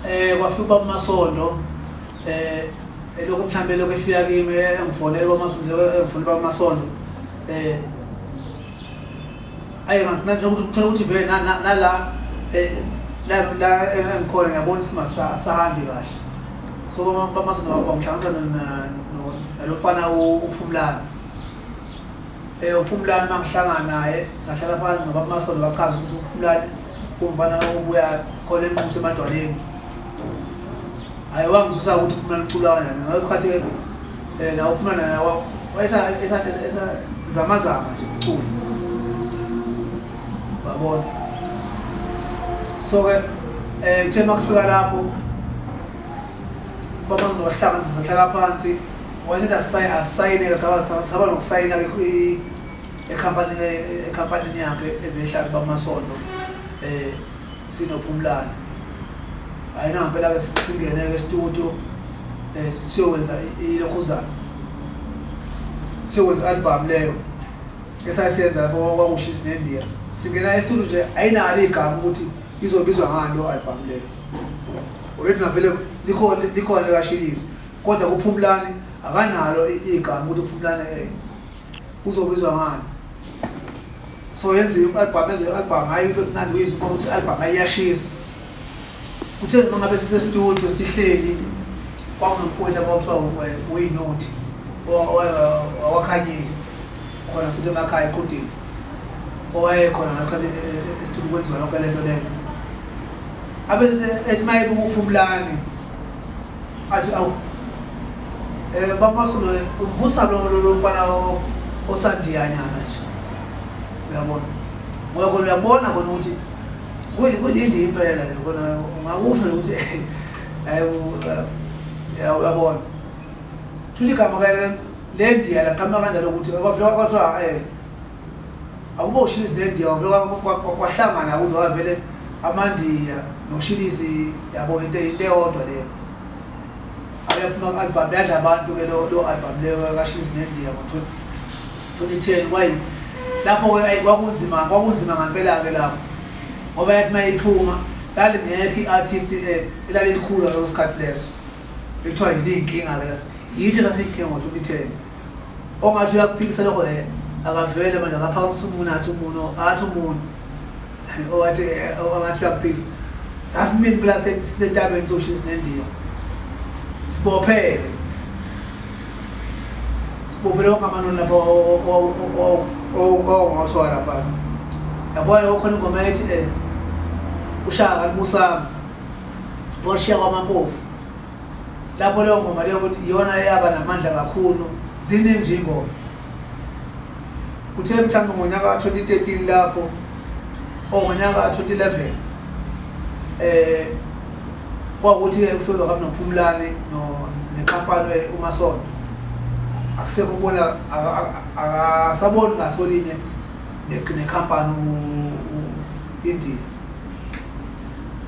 eh kwafika ubaba masondo eh elokhu mhlambe lokho efika kimi engifonela ubaba masondo engifuna ubaba masondo eh ayi nganthe ukuthi kuthola ukuthi vele nala eh la la engikhona ngiyabona simasa sahambi kahle so baba masondo wangihlanganisa nalofana uphumlana eh uphumlana mangihlangana naye sahlala phansi nobaba masondo bachaza ukuthi uphumlana Umfana obuya khona enquthu emadwaleni. Hayi wangisusa ukuthi phuma liculwa kanjani. Ngasikhathi ke eh nawo phuma naye wayesa esa esa zama zama nje ucula. Babona. So ke eh kuthe makufika lapho baba ngohlanga sizohlala phansi wayesethi asayine asayine saba saba nokusayina ke ekhampanini yakhe ezehlali bamasondo um sinophumlane hhayi nangampela-ke singene-ke estudio um siyokwenza ilokhuzana siyokwenza i-albhamu leyo esayisenza lapho kwakushisi nendiya singena estudio nje ayinalo igama ukuthi izobizwa ngani lo albhamu leyo already navele likhona likashilisi kodwa kuphumulani akanalo igama ukuthi uphumulani um Uzobizwa ngani? So yenza i-album ezwe i-album hayi into emnandi uyizwa uma ukuthi i-album ayiyashisa. Uthe noma ngabe sisestudio sihleli kwakunomfowethu abawuthiwa uyinothi wawakhanyile khona futhi emakhaya equdini owayekhona ngakhathi esitulo kwenziwa yonke le nto leyo abethi mayibukuphumlani athi awu eh bapasula uvusa lo lo mfana osandiyanyana nje uyabona ngoba khona uyabona khona ukuthi kuyindi impela nje khona ungakusho ukuthi uyabona futhi igama ke le ndiya laqhamuka kanjalo ukuthi kwathiwa um eh, akubo ushilisi nendiya kwahlangana ukuthi wavele amandiya noshilisi yabo into into eyodwa leyo abephuma ku-album yadla abantu ke lo album leyo kashilisi nendiya ngo-twenty ten kwayi lapho-ke ayi kwakunzima kwakunzima ngampela-ke lapho ngoba yathi uma iphuma lalingekho i-artist eh, elalilikhulu ngaleso sikhathi leso ekuthiwa yiliyinkinga-ke la yitho esasiyinkinga ngo-twenty ten ongathi uyakuphikisa lokho um akavele manje akaphakamisa umuntu athi umuntu athi umuntu owathi angathi uyakuphikisa sasimile pula sisentabeni soshisi nendiya sibophele sibophele wonke amanoni lapho owawungathwala lapha yabona okhona ingoma ethi um ushaka limusama washiya kwamampofu lapho leyo ngoma leyo ukuthi iyona eyaba namandla kakhulu ziningi nje ingoma kuthe mhlawumbe ngonyaka ka-2013 lapho or oh, ngonyaka ka-2011 um eh, kwakuthi-ke kusebenza kabi nophumulane nexampane umasonto akusekho ubona akasaboni ngasolinye nekhampani indiya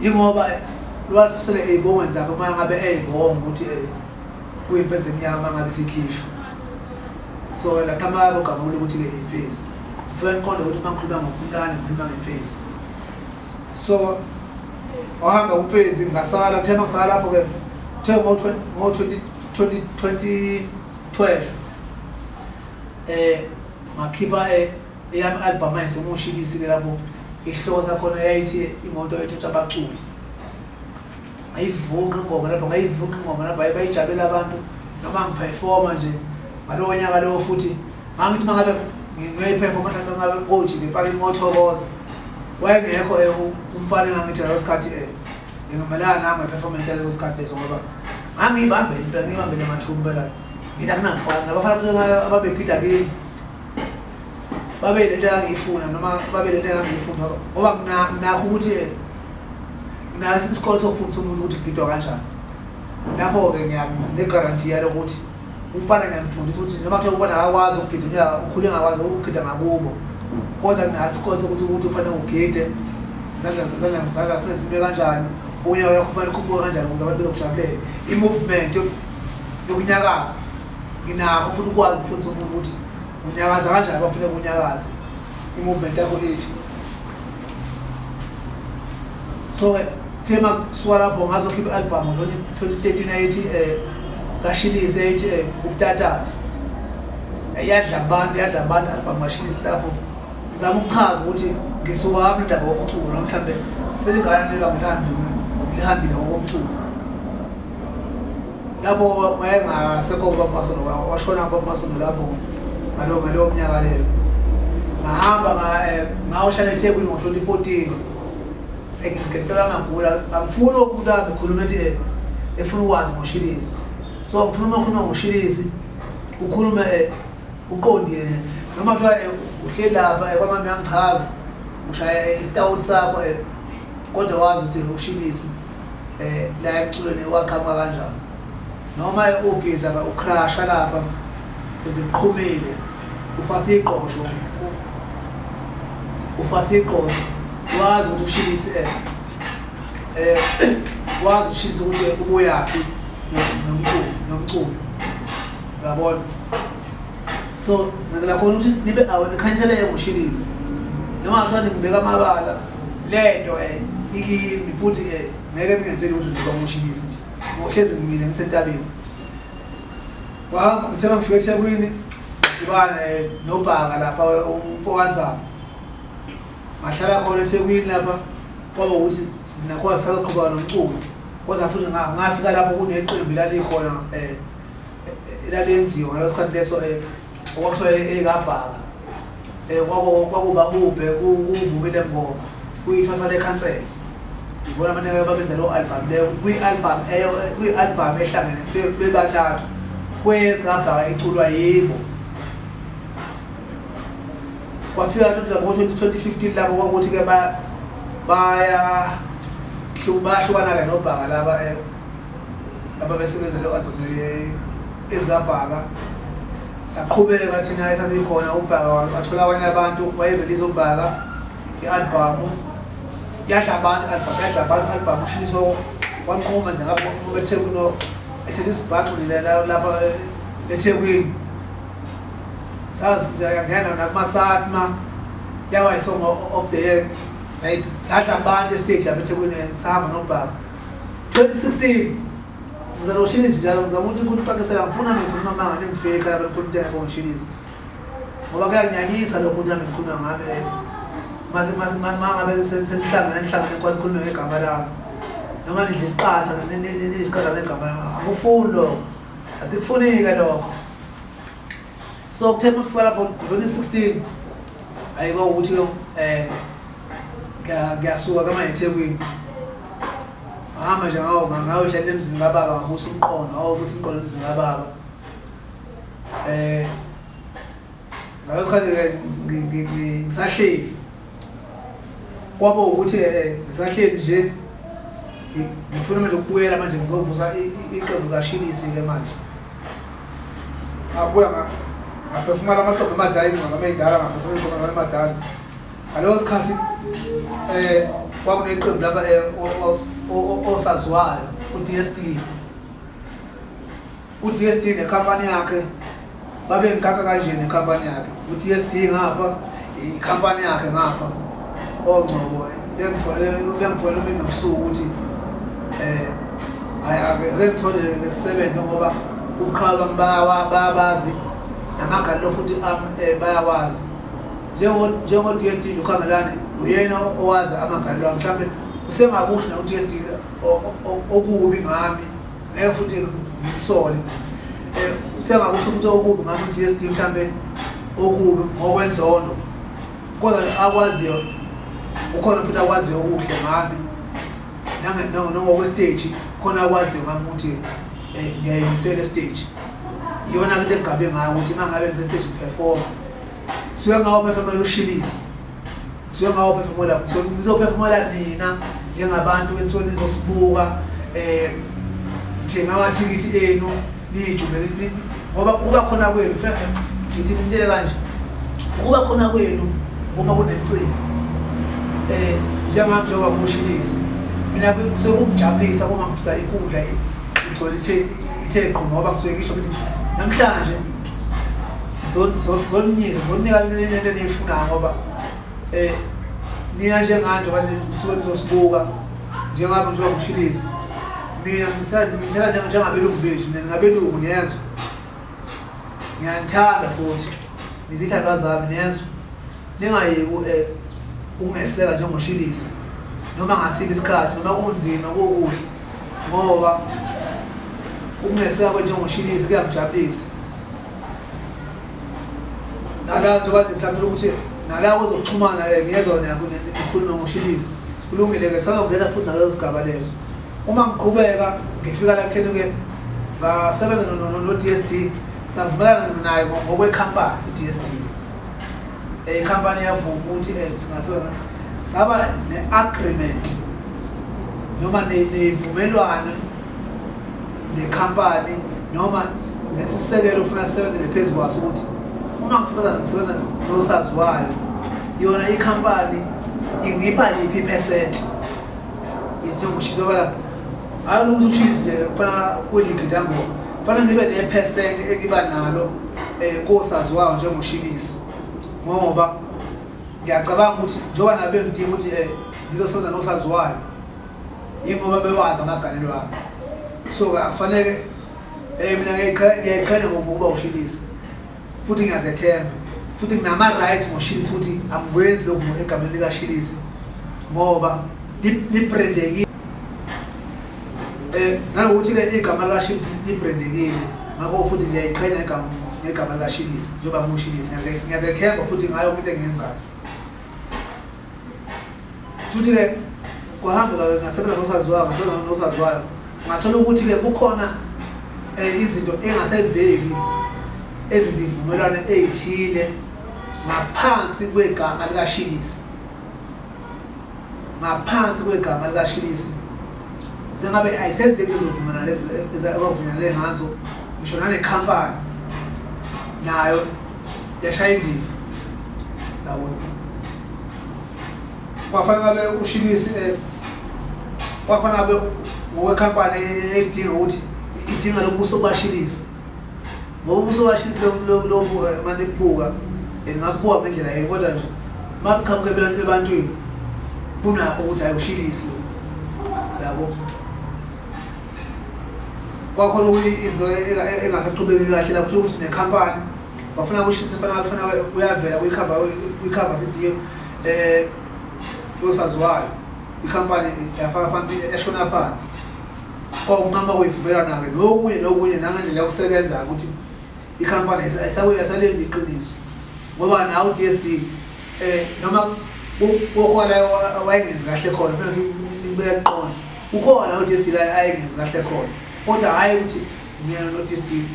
Yingoba lwasusele ey'bongweni zakhe uma ngabe ey'bonga ukuthi eh, kuyimfezi emnyama uma ngabe sikhishwa so laqhamaka bogavula ukuthi-ke imfezi ngifuna niqonde ukuthi uma ngikhuluma ngophumlane ngikhuluma ngemfezi so wahamba umfezi ngasala kuthe mangisala lapho-ke kuthe ngo-2012 um ngakhipha eh, Eyami album ayisemoshilisi ke lapho isihloko sakhona yayithi imoto ethutha abaculi ngayivunqa ingoma lapho ngayivunqa ingoma lapho bayijabulela abantu noma ngiphefoma nje ngalowo nyaka lowo futhi ngangithi uma ngabe ngiyoyiphefoma mhlawumbe ngabe koji ngipake imothokoza wayengekho eh, umfana engangithi ngaleso sikhathi um ngingamelanga nami ngeperformance yaleso sikhathi leso ngoba ngangiyibambele impela ngiyibambele mathumbe la ngithi akunamfana nabafana ababegida kimi babe lento yangiyifuna noma babe lento yangiyifuna ngoba mina nakho ukuthi nasi isikole sokufundisa umuntu ukuthi kugidwa kanjani lapho-ke ngiyanegaranti yalo ukuthi umfana ngiyamfundisa ukuthi noma kuthiwa umfana akakwazi ukugida unyaka ukhule engakwazi ukugida ngakubo kodwa nasi isikole sokuthi ukuthi ufanele ugide izandla zezandla ngizandla kufanele sibe kanjani unyaka yakho ufanele ukhuphuke kanjani ukuze abantu bezokujabulela i-movement yokunyakaza nginakho futhi ukwazi ukufundisa umuntu ukuthi unyakaza kanjani bafuna kunyakaza i-movement yakho ithi so-ke thema kusuka lapho ngazokhipha i-albhamu lona twenty thirteen ayithi um eh, kashilisi ayithi um eh, ukutatata eh, yadla abantu yadla abantu i-albhamu kashilisi lapho ngizama ukuchaza ukuthi ngisuwami indaba wokucula mhlawumbe selingane lebangilihambile ngokomculo lapho wayengasekho ubabamasondo washona ubabamasondo lapho ngalo ngaleyo mnyaka leyo ngahamba eh, ngayohlala ethekwini ngo-twenty fourteen ngempela ngagula angifuni umuntu ahambe khuluma ethi eh, efuna ukwazi ngoshilisi so ngifuna uma khuluma ngoshilisi ukhulume eh, uqondile noma kuthiwa uhleli lapha kwamami yangichaza ushaya isitawuti sakho kodwa wazi ukuthi ushilisi eh la emculweni waqhamuka kanjani noma ubhizi lapha ucrasha lapha seziqhumile ufasa iqosho ufasa iqosho wazi ukuthi ushilise eh, eh wazi ushisa ukuthi ubuyaphi nomculo nomculo yabona so ngenzela khona ukuthi nibe awe nikhanyiseleke ngoshilisa noma kuthiwa ningibeka amabala le nto um eh, ikimi futhi um eh, ngeke ningenzeli ukuthi ndiba ngoshilisa nje ngohlezi ngimile ngisentabeni wahamba ngithema ngifika ethekwini ngidibane eh, nobhaka lapha umfokanzama ngahlala khona ethekwini lapha kwaba ukuthi sinakhona sisaqhubeka nomculo kodwa futhi ngafika lapho kuneqembu lalikhona um elalenziwa ngaleso sikhathi leso eh, okwakuthiwa eyikabhaka eh, um kwakuba hubhe kuvumile mngoma kuyithwasa lekhansela yibona abaningi babenza leyo albhamu leyo kwi-albhamu kwi-albhamu ehlangene bebathathu kwezikabhaka iculwa yibo kwafika ngo-2015 labo kwakuthi-ke baya bayahlukana-ke nobhaka laba eh, ababesebenza le album ezikabhaka saqhubeka thina esasikhona ubhaka wathola abanye abantu wayerelease ubhaka i-albhamu yadla abantu albhamu yadla abantu albhamu ushiliso wanquma nje ngapha wanquma ethekwini ethela isibhaxu lapha ethekwini sazi siyangena nakumasatma yawa isongo of the year sadla abantu estage lapha ethekwini sihamba nobhaka 2016 ngizana ushinizi njalo ngizama ukuthi kucakisela ngifuna ngikhuluma amanga nengifike khaya belikhulumteka konshinizi ngoba kuyanginyanyisa lokho ukuthi nami ngikhuluma ngabe mangabe selihlangana nihlangane kwa nikhulume ngegama lami noma nidla isiqasa nisiqala ngegama lami akufuni lokho asikufuni-ke lokho so kuthe uma kufika lapho ngivele 16 ayikwa ukuthi um eh, ngiyasuka kamanye ethekwini ngahamba nje ngawo ngayohlala emzini kababa ngabusa umqondo awobusa umqondo emzini kababa um ngaleso khathi-ke ngisahleli kwabo ukuthi eh, eh, ngisahleli nje ngifuna manje ukubuyela manje ngizovusa iqembu kashilisi-ke manje abuya ngaphefumala amaqembu amadala ingqondo ameyidala ngaphefumala ingqondo amemadala ngaleyo sikhathi um kwakuneqembu lapha osaziwayo u-d s d UDSD nekhampani yakhe babengikaka kanje nekhampani yakhe uDSD ngapha ikhampani yakhe ngapha ongcobo bengifole umini nobusuku ukuthi um bengithole ngesisebenze ngoba uqhaba bayabazi namagalelo futhi um bayawazi njengo-DSD lokhangelane uyena owazi amagalelo ami mhlawumbe usengakusho na-DSD okubi ngami ngeke futhi ngikusole eh, usengakusho futhi okubi ngathi u-dsd mhlawumbe okubi ngokwenzondo kodwa akwaziyo ukhona futhi akwaziyo okuhle ngami nangokwesteji khona akwaziyo ngami ukuthi eh, ngiyayimisela esteji iyona into engigabe ngayo ukuthi uma ngabe ngisesteji performa suke ngawo mefemele ushilise ngisuke ngawophefumula ngizophefumula nina njengabantu enisuke nizosibuka eh thenga amathikithi enu niyijubele ngoba ukuba khona kwenu ngithi ngitshele kanje ukuba khona kwenu uma kunemcimbi eh njengami njengoba kushilisa mina kusuke kungijabulisa uma ngifika inkundla igcwele ithe ithe qho ngoba kusuke ngisho ukuthi namhlanje zoninyisa zoninika lento eniyifunayo ngoba Eh nina njenganje balezi kusuke nizosibuka njengabe njengoba kushilisa. Mina ngithanda ngithanda njengabelungu bethu mina ngabelungu niyezwa. Ngiyanithanda futhi ngizithandwa zami niyezwa. Ningayeki eh ukungeseka njengoshilisa noma ngasiphi isikhathi noma kunzima kokuhle ngoba ukungeseka kwenjengoshilisa kuyamjabulisa. nala njengoba nje mhlawumbe ukuthi nala kuzoxhumana ke ngiyezwa nayo ikhuluma ngoshilisi kulungile-ke sazongena futhi naleso sigaba leso uma ngiqhubeka ngifika la kutheni-ke ngasebenza no-d s d savumelana naye ngokwekhampani u-d s d eh, ikhampani yavuma ukuthi um singasebenza saba ne-agreement noma nevumelwane nekhampani noma nesisekelo ufuna sisebenzele phezu kwaso ukuthi uma ngisebenza ngisebenza nosaziwayo yona ikhampani ingipha liphi iphesenti izinjengoshisa bala hayi ukuthi ushisi nje kufanele kuligidi yangoba kufanele ngibe nephesenti engiba nalo um kosaziwayo njengoshilisi ngoba ngiyacabanga ukuthi njengoba nabe ngidinga ukuthi um ngizosebenza nosaziwayo yingoba bewazi amagalelo abo so-ke akufaneke um mina ngiyayiqhele ngokuba ushilisa futhi ngiyazethemba futhi nginama-right ngoshilisa ukuthi angikwenzi lokhu egameni likashilisa ngoba librendekile um nanokuthi ke igama likashilisa librendekile ngakho futhi ngiyayiqhenya ngegama likashilisa njengoba ngushilisa ngiyazethemba futhi ngayo kwinto engiyenzayo Futhi ke kwahamba ngasebenza nosaziwayo ngasebenza nosaziwayo ngathola ukuthi ke kukhona eh, izinto engasenzeki ezizivumelwano ezithile ngaphansi kwegama likashilisi ngaphansi kwegama likashilisi sengabe ayisenzeki izovumelana lezi ezakuvumelane ngazo ngisho nane company nayo yashaya indiva yabona kwafanele ngabe ushilisi eh, kwafanele ngabe ngokwekhampani edinga ukuthi idinga lobuso bashilisi ngoba ubuso bashilisi lobu eh, mane kubuka and ngakubuka ngendlela yini kodwa nje makuqhamuke ebantwini kunakho ukuthi ayoshilisi lo yabo kwakhona ukuthi izinto engasaqhubeki kahle la kuthiwa ukuthi nekhampani bafuna kushisa fana fana uyavela kuyikhava kuyikhava sidiyo eh yosaziwayo ikhampani yafaka phansi eshona phansi kwakunqama kuyivumelana-ke nokunye nokunye nangendlela yokusebenza ukuthi ikhampani ayisalenzi iqiniso ngoba nawe u-d s d um eh, noma kokhona wayengenzi kahle khona funa nibeka kuqona ukhona udestile ayengenzi kahle khona kodwa hhayi ukuthi myena nodestile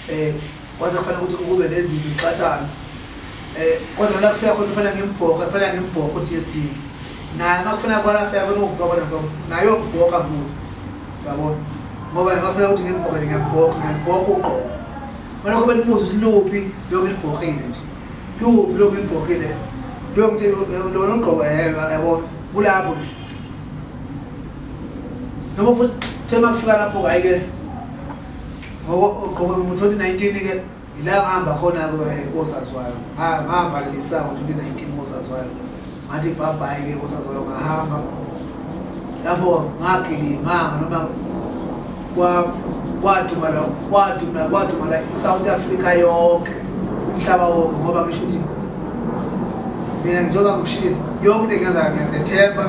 um eh, waze kufanele ukuthi ukube nezinto uxatshana um eh, kodwa nala kufika khona kufanele ngimbhoka kufanele ngimbhoka udestile naye uma kufanele kona afika khona ukubhoka nazo naye yokubhoka futhi yabona ngoba nama kufanele ukuthi ngimbhoke ngiyambhoka ngiyambhoka uqobo mana kube libuzo ukuthi luphi loku libhokhile nje luphi loku libhokhile lokuthi lona ugqoke yebo yabo kulapho nje noma futhi the uma kufika lapho-ke ayike ogqoke ngo-twenty nineteen-ke ila ngihamba khona-ke eh, kosaziwayo ngavalela isango twenty nineteen kosaziwayo ngathi ibhabhayi-ke kosaziwayo ngahamba lapho ngagilima noma kwadumala kwadumala kwadumala i-south africa yonke umhlaba wonke ngoba ngisho ukuthi mina njengoba ngikushisa yonke into engenzayo ngiyazethemba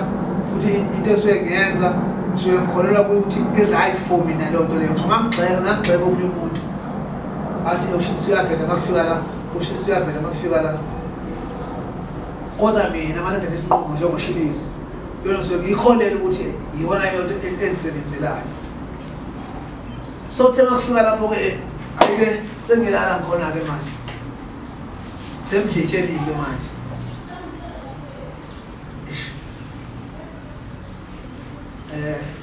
futhi into esuke ngenza ngisuke ngikholelwa kuthi i-right for mina leyo nto leyo ngisho ngangigxeka ngangigxeka omunye umuntu athi ushisa uyabheda makufika la ushisa uyabheda makufika la kodwa mina masethatha isinqumo njengoshilisa yona ngisuke ngiyikholele ukuthi yiyona yonto engisebenzelayo so kuthe makufika lapho-ke eh, ayike sengilala ngikhona-ke manje semdletshelike manje um